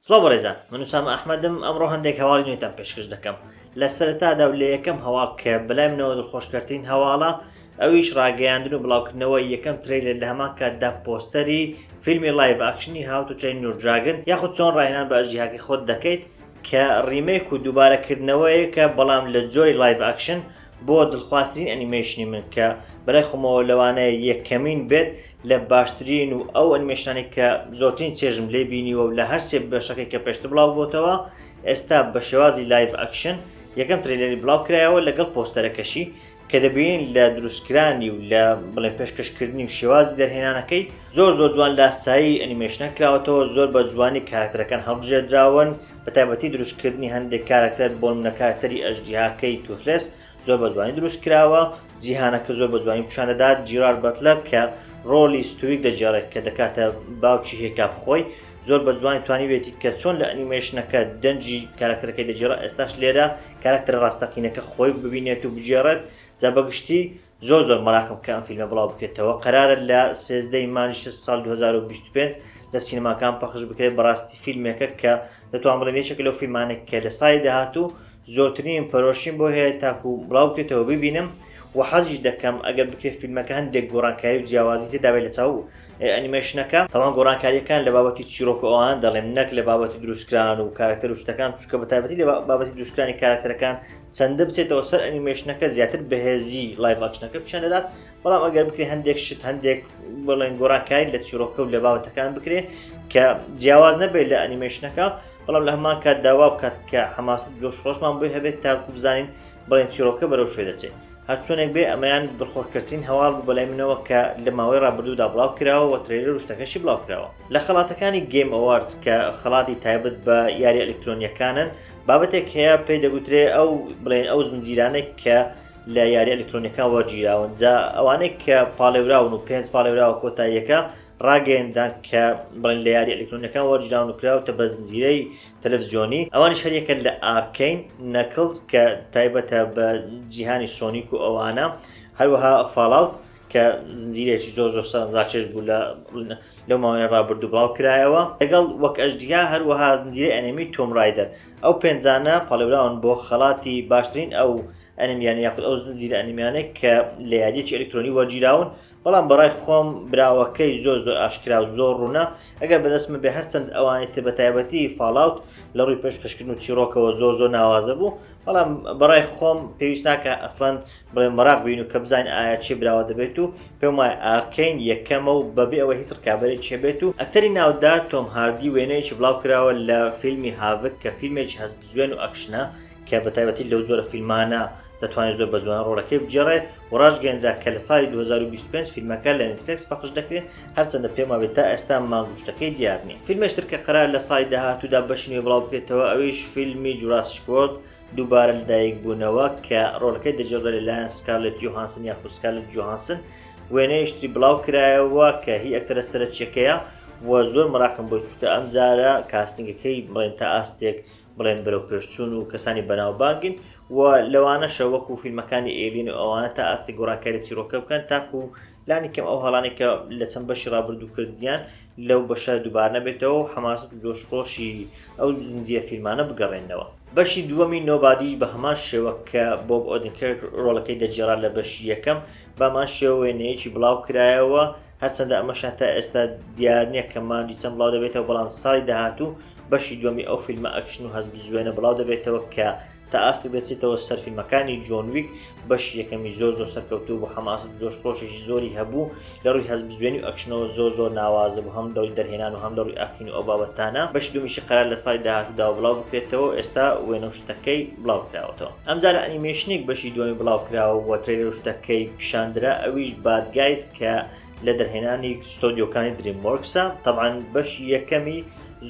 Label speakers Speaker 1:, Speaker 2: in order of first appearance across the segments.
Speaker 1: سڵاو بەڕێزان من وسام ئەحمەدم ئەمڕۆ هەندێک هەواڵی نوێتان پێشکەش دەکەم لە سەرەتادا و لە یەکەم هەواڵ کە بەلای منەوە دڵخۆشکردین هەواڵە ئەویش ڕاگەیاندن و بڵاوکردنەوە یەکەم ترەیلێت لە هەمان کاتدا پۆستەری فیلمی لایڤ ئاکشنی هاوت و چین نوورجاگن یاخود چۆن ڕاهێنان بە ئەژیهاکی خۆت دەکەیت کە ڕیمێک و دووبارەکردنەوەیەکە بەڵام لە جۆری لایڤ ئاکشن بۆ دڵخوازترین ئەنیمەیشنی من کە بەلای خۆمەوە لەوانەیە یەکەمین بێت لە باشترین و ئەو ئەنیمەشنانی کە زۆرترین چێژم لێ بینیوە و لە هەرسێ بەشەکەی کە پێشتر بڵاو بۆتەوە ئێستا بە شێوازی لایڤ ئەکشن یەکەم ترێلەری بڵاو کرایەوە لەگەڵ پۆستەرەکەشی کە دەبین لە دروستکرانی و لە بڵێ پێشکەشکردنی و شێوازی دەرهێنانەکەی زۆر زۆر جوان لاسایی ئەنیمەشنە کراوەتەوە زۆر بە جوانی کارکتەرەکان هەڵبژێدراون بە تایبەتی دروستکردنی هەندێک کارکتەر بۆنمونە کارکتەری ئەژدیها کەی توهلێس زۆر بە جوانی دروست کراوە جیهانەکە زۆر بە جوانی پیشان دەدات جیرار بەتلەر کە ڕۆلی ستویک دەجێڕێت کە دەکاتە باوکی هێکا بخۆی زۆر بە جوانی توانیوێتی کە چۆن لە ئەنیمێشنەکە دەنجی کارکتەرەکەی دەجێڕە ئێستاش لێرە کارکتەر ڕاستەقینەکە خۆی ببینێت و بگێڕێت جا بەگشتی زۆر زۆر مەراقم بکە ئەم فیلمە بڵاو بکرێتەوە قەرارە لە سێزدەی مانش سال 2025 لە سینەماکان پەخش بکرێت بەڕاستی فیلمێکە کە دەتوان بڵێ یەکێک لەو فیلمانێک کە لە سای داهات و زۆرترین پەرۆشین بۆ هەیە تاکو بڵاو بکرێتەوە ببینم و حەزیش دەکەم ئەگەر بکرێت فیلمەکە هەندێک گۆڕانکاری و جیاوازی تێداێت لە چاو ئەنیمەشنەکە تاوان گۆڕانکاریەکان لە بابەتی چیرۆکە ئەوان دەڵێم نەک لە بابەتی دروستکران و کارکتەر و شتەکان چکە بە تابەتی لە بابەتی دروستکرانی کارکتەرەکان چەندە بچێتەوە سەر ئەنیمەیشنەکە زیاتر بەهێزی لایڤ ئاکشنەکە پیشان دەدات بەڵام ئەگەر بکرێت هەندێک شت هەندێک بڵێن گۆڕانکاری لە چیرۆکە و لە باوەتەکان بکرێت کە جیاواز نەبێت لە ئەنیمەیشنەکە بەڵام لە هەمان کات داوا بکات کە حەماست جۆش خۆشمان بۆی هەبێت تاکو بزانین بڵێن چیرۆکە بەرەو شوێ دەچێت هەرچۆنێک بێ ئەمەیان دڵخۆشکردترین هەواڵ بوو بەلای منەوە کە لە ماوەی ڕابردوودا بڵاو کراوە و ترێلەر و شتەکەشی بڵاو کراوە لە خەڵاتەکانی گەیم ئەوارز کە خەڵاتی تایبەت بە یاری ئەلکترۆنیەکانن بابەتێک هەیە پێی دەگوترێ ئەو بڵێن ئەو زنجیرانێک کە لە یاری ئەلکترۆنیەکان وەرگیراون جا ئەوانەی کە پاڵێوراون و پێنج پاڵێوراوە کۆتاییەکە ڕاگەیەندران کە بڵێن لە یاری ئەلکترۆنیەکان وەرجراون و کراوتە بە زنجیرەی تەلەڤزیۆنی ئەوانی شەریەکە لە ئارکین نەکلز کە تایبەتە بە جیهانی سۆنیک و ئەوانە هەروەها فاڵاوت کە زنجیرەیەکی زۆر زۆر سەرنجڕاکێش بوو لە لەو ماوەیە ڕابردوو بڵاو کرایەوە لەگەڵ وەک ئەژدیا هەروەها زنجیرە ئەنێمی تۆم ڕایدەر ئەو پێنجانە پاڵێوراون بۆ خەڵاتی باشترین ئەو ئەنمیانە یاخود ئەو زنجیرە ئەنمیانێک کە لە یاریەکی ئەلکترۆنی وەرگیراون بەڵام بەڕای خۆم براوەکەی زۆر زۆر ئاشکرا و زۆر ڕوونە ئەگەر بەدەستمە بێ هەرچەند ئەوانی تر بە تایبەتی فاڵاوت لە ڕووی پێشکەشکردن و چیڕۆکەوە زۆر زۆر ناوازە بوو بەڵام بەڕای خۆم پێویست ناکە ئەسڵەن بڵێ مەراق بین و کە بزانین ئایا چی براوە دەبێت و پێم وایە ئارکەین یەکەمە و بەبێ ئەوەی هیچ ڕکابەرێکی هەبێت و ئەکتەری ناودار تۆم هاردی وێنەیەکی بڵاو کراوە لە فیلمی هاڤک کە فیلمێکی هەستبزوێن و ئەکشنە کە بە تایبەتی لەو جۆرە فیلمانە دەتوانێت زۆر بە جوان ڕۆڵەکەی بگێڕێ و ڕاشگەیەندرا کە لە ساڵی 2025 فیلمەکە لە نێتفلێکس پەخش دەکرێت هەرچەندە پێم وابێت تا ئێستا مانگوشتەکەی دیار نییە فیلمێکتر کە قەرار لە ساڵی داهاتوودا بەشی نوێ بڵاو بکرێتەوە ئەویش فیلمی جوراسیک وۆرڵد دووبارە لەدایکبوونەوە کە ڕۆلەکەی دەجێڕدرێت لەلایەن سکارلێت یۆهانسن یاخود سکارلێت جۆهانسن وێنەیەشتری بڵاو کرایەوە کە هی ئەکتەرە سەرەکیەکەیە و زۆر مەراقم بۆی کورتە ئەم جارە کاستنگەکەی بڵێن تا ئاستێک بڵێن بەرەو پێشچوون و کەسانی بەناوبانگین و لەوانەشە وەکو فیلمەکانی ئێلین و ئەوانە تا ئاستی گۆڕانکاری چیرۆکە بکەن تاکو لانی کەم ئەو هەڵانەی کە لە چەند بەشی ڕابردوو کردیان لەو بەشە دووبار نەبێتەوە و حەماسەت و جۆشخۆشی ئەو زنجیە فیلمانە بگەڕێنەوە بەشی دووەمی نۆبادیش بە هەمان شێوە کە بۆب ئۆدنکرد ڕۆڵەکەی دەگێڕا لە بەشی یەکەم بامان شێوە وێنەیەکی بڵاو کرایەوە هەرچەندە ئەمەشان تا ئێستا دیار نییە کە مانجی چەند بڵاو دەبێتەوە بەڵام ساڵی داهاتوو بەشی دووەمی ئەو فیلمە ئەکشن و هەست بزوێنە بڵاو دەبێتەوە کە تا ئاستێک دەچێتەوە سەر فیلمەکانی جۆن ویک بەشی یەکەمی زۆر زۆر سەرکەوتوو بۆ حەماس زۆر خۆشێکی زۆری هەبوو لە ڕووی هەز بزوێنی و ئەکشنەوە زۆر زۆر ناوازە بوو هەم دەوری دەرهێنان و هەم لە ڕووی ئاکین و ئەو بابەتانە بەش دومیشی قەرار لە سای داهاتوودا و بڵاو بکرێتەوە ئێستا وێنە و شتەکەی بڵاو کراوەتەوە ئەمجا لە ئەنیمەیشنێک بەشی دووەمی بڵاو کراوە و ترەیلەر و شتەکەی پیشاندرا ئەویش باد گایز کە لە دەرهێنانی ستۆدیۆکانی دریم وۆرکسە تەبعاان بەشی یەکەمی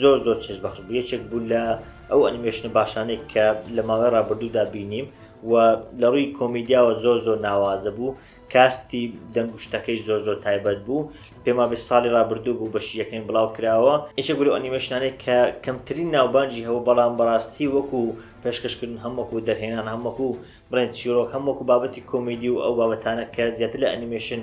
Speaker 1: زۆر زۆر چێژبەخش بوو یەکێک بوو لە ئەو ئەنیمێشنە باشانەی کە لە ماوەی ڕابردوودا بینیم و لە ڕووی کۆمیدیاوە زۆر زۆر ناوازە بوو کاستی دەنگشتەکەی زۆر زۆر تایبەت بوو پێما بێ ساڵی ڕابردوو بوو بەشی یەکەین بڵاو کراوە یەکە گرو ئەنیمێشنانێک کە کەمترین ناوبانجی هەوە بەڵام بەڕاستی وەکو پێشکەشکردن هەموەکو دەرهێنان هەموەکو بڵێن چیرۆک هەموەکو بابەتی کۆمیدی و ئەو بابەتانە کە زیاتر لە ئەنیمێشن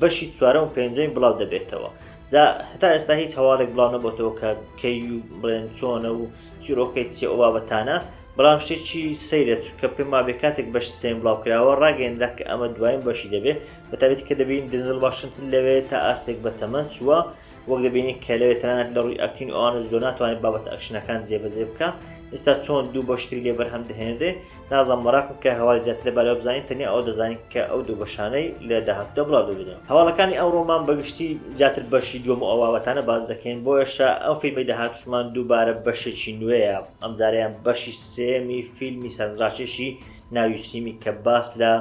Speaker 1: بەشی چوارەم و پێنجەمی بڵاو دەبێتەوە جا هەتا ئێستا هیچ هەواڵێک بڵاو نەبتەوە کە کەی و بڵێن چۆنە و چیرۆکەی چی ئەو بابەتانە بەڵام شتێکی سەیرە چکە پێم مابێ کاتێک بەش سێم بڵاو کراوە ڕاگەندرا کە ئەمە دوایین بەشی دەبێت بەتابێت کە دەبین دزل واشنتن لەوێ تا ئاستێک بە تەمەەن چووە وەک دەبینین کە لەوێ تەنانەت لە ڕووی ئەکتین ئەوانە زۆر ناتوانێت بابەتە ئەکشنەکان جێبەجێ بکە ئێستا چۆن دوو بەشتری لێ بەرهەم دەهێنرێ نازان مەراقم کە هەوای زیاتر لەبارەوە بزانین تەنیا ئەو دەزانین کە ئەو دوو بەشانەی لە داهاتوودا بڵاو دەبێنەوە هەواڵەکانی ئەو ڕۆمان بەگشتی زیاتر بەشی دووەم و ئەوابەتانە باز دەکەین بۆ ئێشە ئەو فیلمی داهاتوشمان دووبارە بەشێکی نوێیە ئەمجاریان بەشی سێمی فیلمی سەرنجڕاکێشی ناویسیمی کە باس لە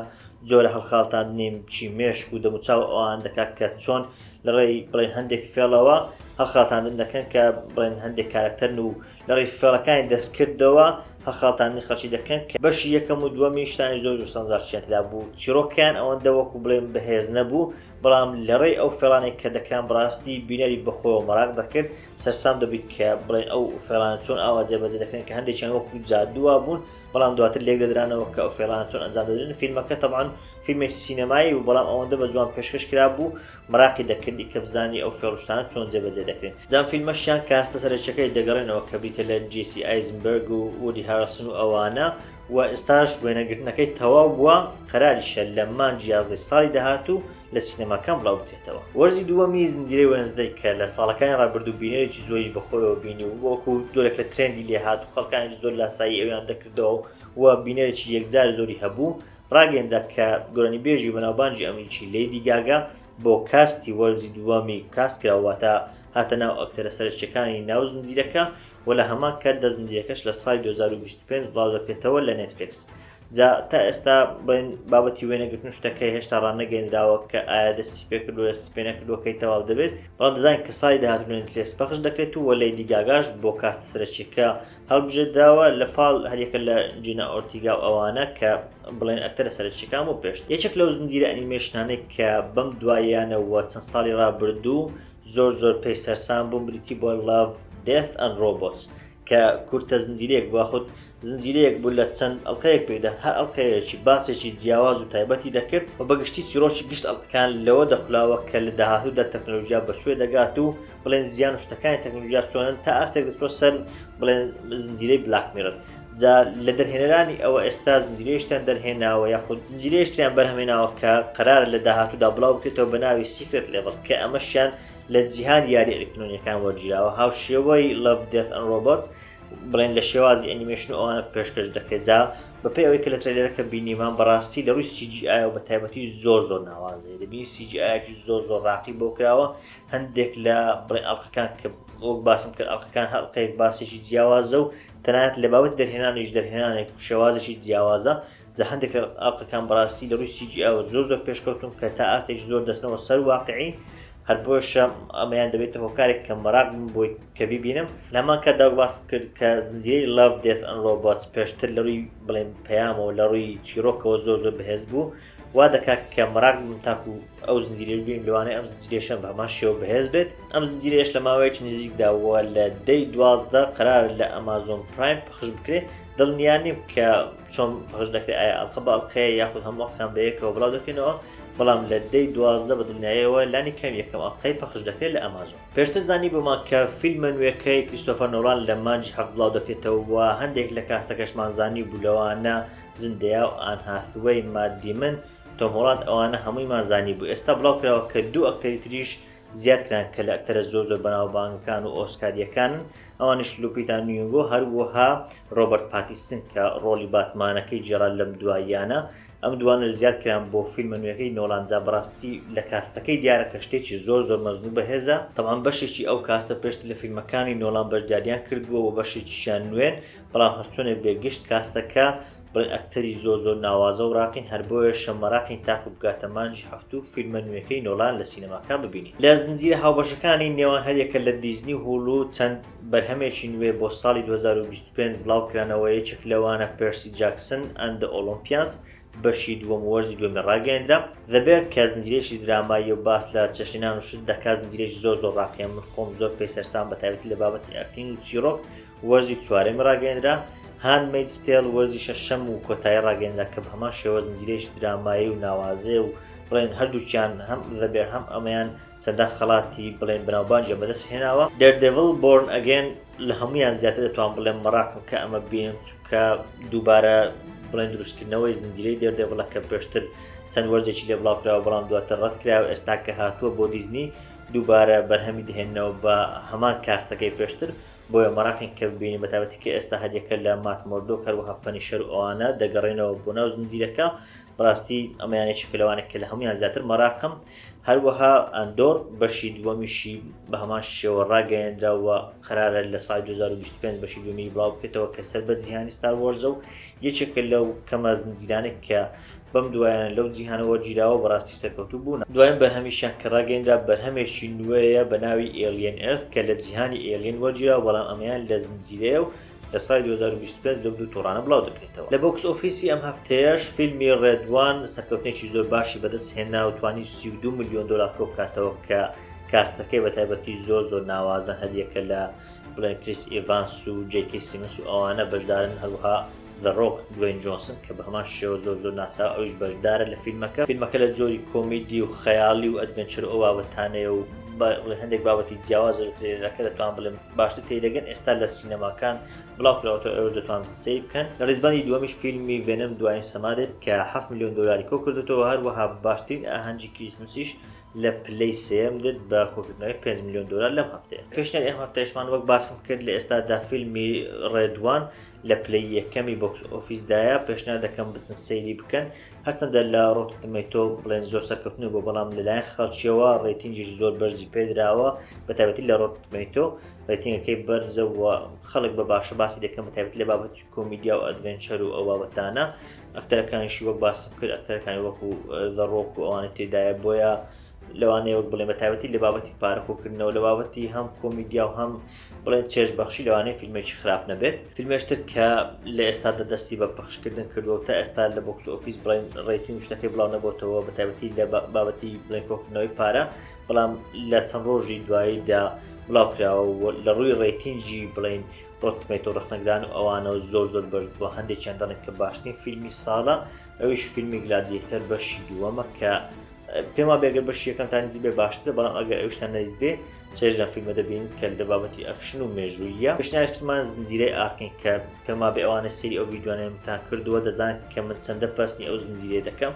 Speaker 1: جۆرە هەڵخاڵتاندنێکی مێشک و دەموچاو ئەوان دەکات کە چۆن لەڕێی بڵێن هەندێک فێڵەوە هەڵخاڵتاندن دەکەن کە بڵێن هەندێک کارەکتەرن و لەڕێی فێڵەکانی دەستکردەوە هەڵخاڵتاندنی خەڵکی دەکەن کە بەشی یەکەم و دووەمیشتانی زۆر زۆر سەنجارچێندا بوو چیرۆکیان ئەوەندە وەکو بڵێن بەهێز نەبوو بەڵام لەڕێی ئەو فێڵانێک کە دەکان بڕاستی بینەری بەخۆەوە مەراق دەکرد سەرسام دەبیت کە بڵێن ئەو فێڵانە چۆن ئاوا جێبەجێ دەکەن کە هەندێکیان وەکو جادووا بوون بەڵام دواتر لێک دەدرانەوە کە ئەو فێڵان چۆن ئەنجام دەدرێن فیلمەکە تەبان فیلمێکی سینەمایی بوو بەڵام ئەوەندە بە جوان پێشکەش کرا بوو مەراقی دەکردی کە بزانی ئەو فێڵشتانە چۆن جێبەجێ دەکرێن جام فیلمەشیان کاستە سەرەکیەکەی دەگەڕێنەوە کە بریتە لە جێسی ئایزنبەرگ و وودی هارسن و ئەوانە و ئێستاش وێنەگرتنەکەی تەواو بووە قەراریشە لە مانجی یازدەی ساڵی داهاتوو لە سینەماکان بڵاو بکرێتەوە وەرزی دووەمی زنجیرەی وێنزدەی کە لە ساڵەکانی ڕابردوو بینەرێکی زۆری بەخۆیەوە بینی و وەکو جۆرێک لە ترێندی لێهات و خەڵکانی زۆر لاسایی ئەویان دەکردەوە و بینەرێکی یەکجار زۆری هەبوو ڕاگەیەندرا کە گۆرانیبێژی بەناوبانگی ئەمریکی لەیدی گاگا بۆ کاستی وەرزی دووەمی کاست کراوە واتە هاتە ناو ئەکتەرە سەرەکیەکانی ناو زنجیرەکە و لە هەمان کاتدا زنجیرەکەش لە سای 2025 بڵاودەکرێتەوە لە نێتفلکس جا تا ئێستا بڵێن بابەتی وێنەگرتن شتەکە هێشتا ڕانەگەێنراوە کە ئایا دەستی پێکردو دەستی پێنەکردوەکەی تەواو دەبێت بەڵام دەزانین کە سای داهاتونێتفلکس پەخش دەکرێت و وەلەی دیگاگاش بۆ کاستە سەرەکیەکە هەڵبژێردراوە لە پاڵ هەریەکە لە جینا ئۆرتیگا و ئەوانە کە بڵێن ئەکتەرە سەرەکیەکان و پێشت یەکێک لەو زنجیرە ئەنیمێشنانەی کە بەم دواییانەوە چەند ساڵی ڕابردوو زۆر زۆر پێی سەرسان بوو بریتی بۆ لاڤ دێث ئەن ڕۆبۆتس کە کورتە زنجیرەیەک بووە خود زنجیرەیەک بوو لە چەند ئەڵلقەیەک پێکدا هەر ئەڵلقەیەکی باسێکی جیاواز و تایبەتی دەکرد و بەگشتی چیرۆکی گشت ئەڵلقەکان لەوە دەخولاوە کە لە داهاتوودا تەکنەلۆژیا بەکوێ دەگات و بڵێن زیان و شتەکانی تەکنولوژیا چۆنن تا ئاستێک دەچوە سەر بڵێن زنجیرەی بلاک میرن جا لە دەرهێنەرانی ئەوە ئێستا زنجیرێشتیان دەرهێناوە یاخود زنجیرێشتیان بەرهمێناوە کە قرار لە داهاتوودا بڵاو بکرێتەوە بە ناوی سیکرێت لێبڵ کە ئەمەشیان لە جیهان یاری ئەلکترۆنیەکان وەرگیراوە هاو شێوەی لە دێت ئەن ڕۆبۆت بڵێن لە شێوازی ئەنیمێشن و ئەوانە پێشکەش دەکرێت جا بەپی ئەوەی کە لە ترێلەکە بینیمان بەڕاستی لە ڕووی سیجیایە بە تایبەتی زۆر زۆر ناوازەیە دەبین سیجیایکی زۆر زۆر ڕاقی بۆ کراوە هەندێک لە بڵێ ئەڵلقەکان کە وەک باسم کرد ئەڵلقەکان هەر قەیب باسێکی جیاوازە و تەنانەت لە بابەت دەرهێنانیش دەرهێنانێک و شێوازێکی جیاوازە جا هەندێک لە ئەڵلقەکان بەڕاستی لە ڕووی سیجی ئەو زۆر زۆر پێشکەوتون کە تا ئاستێکی زۆر دەستنەوە سەر واقعی هەر بۆشە ئەمەیان دەبێتە هۆکارێک کە مەراق بم بۆی کە ببینم لەمان کە داو باس کرد کە زنجیرەی لاڤ دێت ئەن ڕۆبات پێشتر لە ڕووی بڵێن پەیامەوە لە ڕووی چیرۆکەوە زۆر زۆر بەهێز بوو وا دەکا کە مەراق بم تاکو ئەو زنجیرەی ببینم لەوانەیە ئەم زنجیرەیشم بە هەمان شێوە بەهێز بێت ئەم زنجیرەیەش لە ماوەیەکی نزیکدا و لە دەی دوازدە قرار لە ئەمازۆن پرایم پەخش بکرێت دڵنیا نیم کە چۆن پەخش دەکرێت ئایا ئەڵقە بە ئەڵقەیە یاخود هەموو ئەڵقان بە یەکەوە بڵاو دەکەینەوە بەڵام لە دەی دوازدە بە دڵنیایەوە لانی کەم یەکەم ئەڵقەی پەخش دەکرێت لە ئەمازۆن پێشتر زانی بۆمان کە فیلمە نوێکەی کریستۆفەر نۆڵان لە مانجی حەفت بڵاو دەکرێتەوە و هەندێک لە کاستەکەشمان زانی بوو لەوانە زندەیا و ئان هاثوەی، مات دیمن، تۆم هۆڵاند ئەوانە هەموویمان زانیبوو ئێستا بڵاو کراوە کە دوو ئەکتەری تریش زیاد کران کە لە ئەکتەرە زۆر زۆر بەناوبانگەکان و ئۆسکارییەکانن ئەوانیش لوپیتا نیونگۆ هەروەها ڕۆبەرت پاتیسن کە ڕۆڵی باتمانەکەی گێڕا لەم دواییانە ئەم دوانە زیاد کران بۆ فیلمە نوێکەی نۆڵان جا بەڕاستی لە کاستەکەی دیارە کە شتێکی زۆر زۆر مەزن و بەهێزە تەبعەن بەشێکی ئەو کاستە پێشتر لە فیلمەکانی نۆڵان بەشداریان کردووە و بەشێکیشیان نوێن بەڵام هەرچۆنێک بێ گشت کاستەکە بڵێن ئەکتەری زۆر زۆر ناوازە و ڕاقین هەر بۆیەشە مەراقین تاکو بگاتە مانگی حەفتوو فیلمە نوێکەی نۆڵان لە سینەماکان ببینین لە زنجیرە هاوبەشەکانی نێوان هەریەکە لە دیزنی و هوڵ و چەند بەرهەمێکی نوێ بۆ ساڵی 2025 بڵاو کرانەوە یەکێک لەوانە پێرسی جاکسن ئەند دە ئۆڵۆمپیانس بەشی دووەم وەرزی دووەمی ڕاگەیەندرا The Bear کە زنجیرەیەکی دراماییە و باس لە چێشتی نان و شت دەکات زنجیرەیەکی زۆر زۆر ڕاقیە من خۆم زۆر پێی سەرسام بەتایبەتی لە بابەتی ئەکتینگ و چیڕۆک وەرزی چوارەمی ڕاگەیەنرا، Handmaid's Tale، وەرزی شەشەم و کۆتایی ڕاگەیەنرا کە بە هەمان شێوە زنجیرەیەکی درامایی و ناوازەیە و بڵێن هەردووکیان هەم The Bear هەم ئەمەیان چەندان خەڵاتی بڵێن بەناوبانگیان بەدەست هێناوە. Daredevil، Born Again لە هەموویان زیاتر دەتوانم بڵێم مەراقم کە ئەمە ببینم چونکە دووبارە بڵێن دروستکردنەوەی زنجیرەی Daredevil ە کە پێشتر چەند وەرزێکی لێ بڵاوکراوە بەڵام دواتر ڕەتکرا و ئێستا کە هاتووە بۆ دیزنی دووبارە بەرهەمی دەهێننەوە بە هەمان کاستەکەی پێشتر بۆیە مەراقین کە ببینین بەتایبەتی کە ئێستا هەریەکە لە مات مۆردۆک هەروەها پەنیشەر و ئەوانە دەگەڕێنەوە بۆ ناو زنجیرەکە بەڕاستی ئەمەیانێکی کەلەوانێک کە لە هەمویان زیاتر مەراقم هەروەها ئەندۆر بەشی دووەمیشی بە هەمان شێوە ڕاگەیەندراوە قرارە لە سای 2025 بەشی دومی بڵاو بکەێتەوە کە سەر بە جیهانی ستار وەرزە و یەکێکە لەو کەمە زنجیرانێک کە بەم دوایانە لەو جیهانە وەرگیراوە بەڕاستی سەرکەوتوو بوونە. دوایین بەرهەمیشیان کە ڕاگەیەنرا بەرهەمێکی نوێیە بە ناوی Alien Earth کە لە جیهانی ئێلین وەرگیراوە بەڵام ئەمەیان لە زنجیرەیە و لە ساڵی 2025 لەو دوو تۆڕانە بڵاو دەکرێتەوە. لە بۆکس ئۆفیسی ئەم هەفتەیەش فیلمی Red One سەرکەوتنێکی زۆر باشی بەدەست هێنا و توانی 32 ملیۆن دۆلار کۆ بکاتەوە کە کاستەکەی بە تایبەتی زۆر زۆر ناوازەن هەریەکە لە بڵێن کریس ئیڤانس و جەی کەی سیمنس و ئەوانە بەشدارن هەروەها زە ڕۆک، دوەین جۆنسن، کە بە هەمان شێوە زۆر زۆر ناسراوە ئەویش بەشدارە لە فیلمەکە، فیلمەکە لە جۆری کۆمیدی و خەیاڵی و ئەدڤێنچەر و ئەو بابەتانەیە و بەڵێ هەندێک بابەتی جیاوازە لە ترێلەرەکە دەتوان بڵێم باشتر تێیدەگەن ئێستا لە سینەماکان بڵاوکراوەتەوە ئێوەش دەتوان سەیر بکەن لە ڕیزبەندی دووەمیش فیلمی ڤێنم دوایین سەما دێت کە هەفت ملیۆن دۆلاری کۆکردۆتەوە هەروەها باشترین ئاهەنگی کریسمسیش لە پلەی سێیەم دێت بە کۆکردنەوەی 5 ملیۆن دۆلار لەم هەفتەیە پێشنیاری ئەم هەفتەیشمان وەک باسم کرد لە ئێستادا فیلمی ڕێدوان لە پلەی یەکەمی بۆکس ئۆفیس دایە پێشنا دەکەم بچن سەیری بکەن هەرچەندە لە ڕۆت تمەیتۆ بڵێن زۆر سەرکەوتنە بۆ بەڵام لەلایەن خەڵکیەوە ڕێتینگیش زۆر بەرزی پێدراوە بە تابەتی لە ڕۆت تمەیتۆ ڕێتینەکەی بەرزەوە خەڵک بە باشە باسی دەکەم بە تابەتی لە بابەتی کۆمیدیا و ئەدڤێنچەر و ئەو بابەتانە ئەکتەرەکانیشی وەک باسم کرد ئەکتەرەکانی وەکو دەڕۆک و ئەوانە تێدایە بۆیە لەوانەیە وەک بڵێ بە تابەتی لە بابەتی پارکۆکردنەوە لە بابەتی هەم کۆمیدیا و هەم بڵێن چێژ بەخشی لەوانەیە فیلمێکی خراپ نەبێت فیلمێشتر کە لە ئێستا دەدەستی بە پخشکردن کردو تا ئێستا لە بۆکس ئۆفیس بڵێن ڕێتین شتەکەی بڵاو نەبووتەوە بە تایبەتی لە بابەتی بڵێن کۆکردنەوەی پارە بەڵام لە چەند ڕۆژی دواییدا بڵاوکراوە لە ڕووی ڕێتینجی بڵین ڕۆتمێت و ڕخنەگران و ئەوانەوە زۆر زۆر بەش بۆ هەندێکیان دەڵێن کە باشترین فیلمی ساڵە ئەویش فیلمی گلادیتەر بەشی دووەمە کە پێم وابێ گەر بەشی یەکەمتانی دیبێ باشترە بەڵام ئەگەر ئەوشتان نەدیت بێ سێژ لە فیلمە دەبینیت کە لە بابەتی ئەکشن و مێژوویە پشنیارترمان زنجیرەی ئاکین کە پێم وابێ ئەوانە سری ئەو ویددیوانێمتان کردووە دەزان کە من چەندە پەسنی ئەو زنجیرێ دەکەم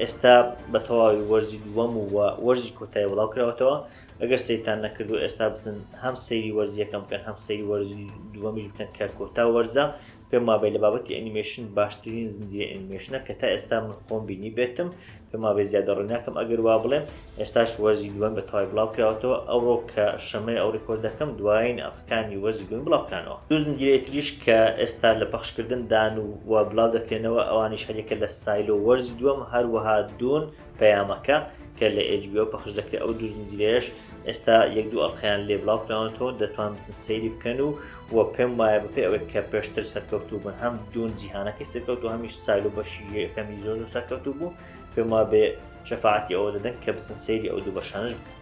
Speaker 1: ئێستا بە تەواوی وەرزی دووەم و وەرزی کۆتای بڵاو کراوەتەوە ئەگەر سەیتان نەکردو ئێستا بزن هەم سەیری وەرزیەکەم بکەن هەم سەیری وەرزی دووەمیش بکەن کە کۆتا وەرزە پێم وابێ لە بابەتی ئەنیمێشن باشترین زنجیرە ئەنیمێشنە کە تا ئێستا من خۆم بینی بێتم پێم وابێ زیادە ڕووناکەم ئەگەر وا بڵێم ئێستاش وەرزی دووەم بە تەوای بڵاو کراوەتەوە ئەوڕۆ کە شەمەی ئەو ڕیکۆرد دەکەم دوایین ئەڵقەکانی وەرزی دووەم بڵاوکرانەوە دوو زنجیرەی تریش کە ئێستا لە پەخشکردن دان و بڵاو دەکرێنەوە ئەوانیش هەریەکە لە سایلۆ وەرزی دووەم هەروەها دوون پەیامەکە کە لە HBO پەخش دەکرێت ئەو دوو زنجیرەیەش ئێستا یەک دوو ئەڵقەیان لێ بڵاو کراونەتەوە دەتوان بچن سەیری بکەن و و پێم وایە بەپێ ئەوەی کە پێشتر سەرکەوتوو بن هەم دوون جیهانەکەی سەرکەوت و هەمیش سایل و بەشی یەکەمی زۆر و سەرکەوتوو بوو پێم وا بێ شەفاعتی ئەوە دەدەن کە بچن سەیری ئەو دوو بەشانش بکەن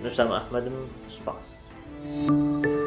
Speaker 1: نووسام ئەحمەدم سوپاس. Thank you.